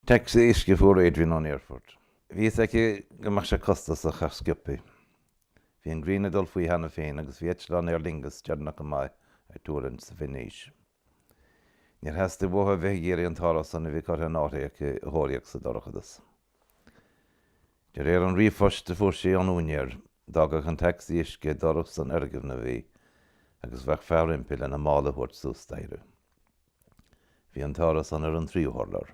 Tacsaí uisce a fuair Adrian ón aerfort. Bhí fhios aici go mbeadh sé costasach ach sciobthaí. Bhí an ghrian ag dul faoi cheana féin agus bhí eitleán Aer Lingus deireanach go maith ag tuirlingt sa Veinéis. Níor theastaigh uaithi a bheith ag iarraidh an t-árasán a bhí curtha in áirithe aici a thóraíocht sa dorchadas. De réir an ríomhphoist a fuair sí ón úinéir, d'fhágfadh an tacsaí uisce ag doras an fhoirgnimh í agus bheadh fear roimpi lena mála a thabhairt suas staighre. Bhí an t-árasán ar an tríú hurlár.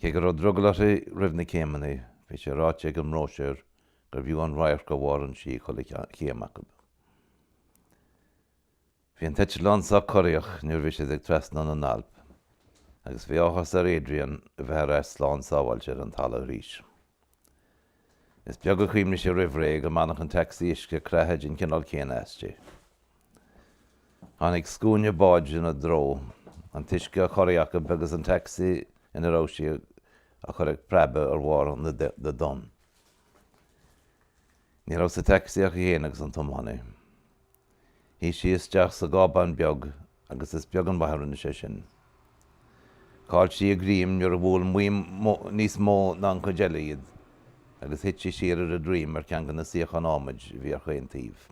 Cé go raibh drogall uirthi roimh na céimeanna, bhí sé ráite ag an mbróisiúr gurbh fhiú an radharc ó bharr an tí chuile chéim acu. Bhí an t-eitleán sách corraitheach nuair a bhí siad ag trasnú na nAlp agus bhí áthas ar Adrian a bheith ar ais slán sábháilte ar an talamh arís. Is beag a chuimhnigh sí roimh ré go mbainfeadh an tacsaí uisce creathadh den chineál céanna aisti. Tháinig scuaine báid ina dtreo, an t-uisce á chorraí acu agus an tacsaí ina raibh sí á chur ag preabadh ar bharr na dtonn. Ní raibh sa tacsaí ach í féin agus an tiománaí. Shuigh sí isteach sa gcábán beag agus is beag an mhaith a rinne sé sin. Chaill sí a greim nuair a bhuail maidhm níos mó ná an chuid eile iad agus thit sí siar ar a droim ar cheann de na suíocháin adhmaid a bhí ar chaon taobh.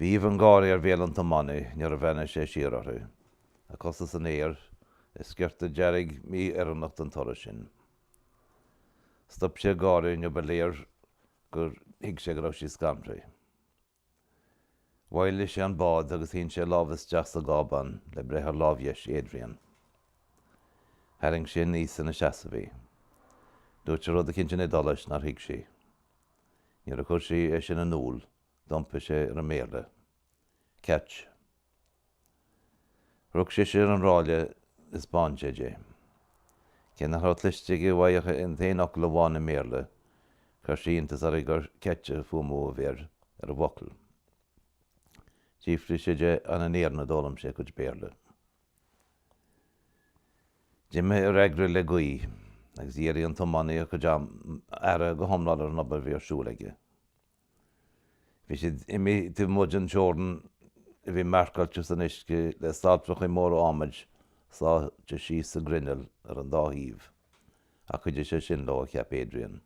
Bhí aoibh an gháire ar bhéal an tiománaí nuair a bhreathnaigh sé siar uirthi, a cosa san aer, a sciorta dearg mí-oiriúnach don turas sin. Stop sé ag gáire nuair ba léir gur thuig sé go raibh sí scanraithe. Mhoilligh sé an bád agus shín sé a lámh isteach sa gcábán le breith ar lámh dheis Adrian. Tharraing sé aníos ina seasamh í. Dúirt sé rud eicínt in Iodáilis nár thuig sí. Nuair a chuir sí é sin in iúl d'iompaigh sé ar an mBéarla. Catch. Rug sise ar an ráille a thaispeáin sé di. Cé nach raibh cloiste aici uaidh ach an t-aon fhocal amháin i mBéarla, chuir sé iontas uirthi gur ketch an fuaimniú a bhí ar an bhfocal. D'fhiafraigh sí de an in Éirinn a d'fhoghlaim sé a chuid Béarla. D'imigh a fhreagra le gaoth, agus dhírigh an tiománaí a chuid aire go hiomlán ar an obair a bhí ar siúl aige. Bhí sé imithe taobh amuigh den teorainn a bhí marcáilte san uisce le saltrachaí móra adhmaid sáithte síos sa ghrinneall ar an dá thaobh, ach chuidigh sé sin leo, a cheap Adrian.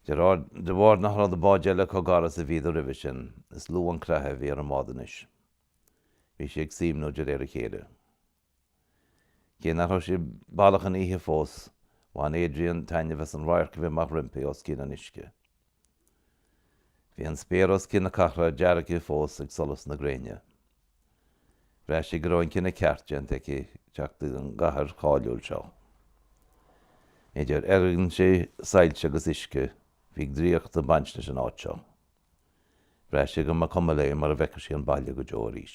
De bharr nach raibh na báid eile chomh gar is a bhíodar roimhe sin, is lú an creathadh a bhí ar an mbád anois. Bhí sí ag suaimhniú de réir a chéile. Cé nach raibh sé baileach ina oíche fós, bhain Adrian taitneamh as an radharc a bhí amach roimpi os cionn an uisce. Bhí an spéir os cionn na cathrach deargtha fós ag solas na gréine. Bhraith sí go raibh an cinneadh ceart déanta aici teacht chuig an gcathair cháiliúil seo. Idir fhoirgintí, soilse agus uisce, bhí draíocht ag baint leis an áit seo. Bhraith sí go mba cuma léi mura bhfeicfeadh sí an baile go deo arís.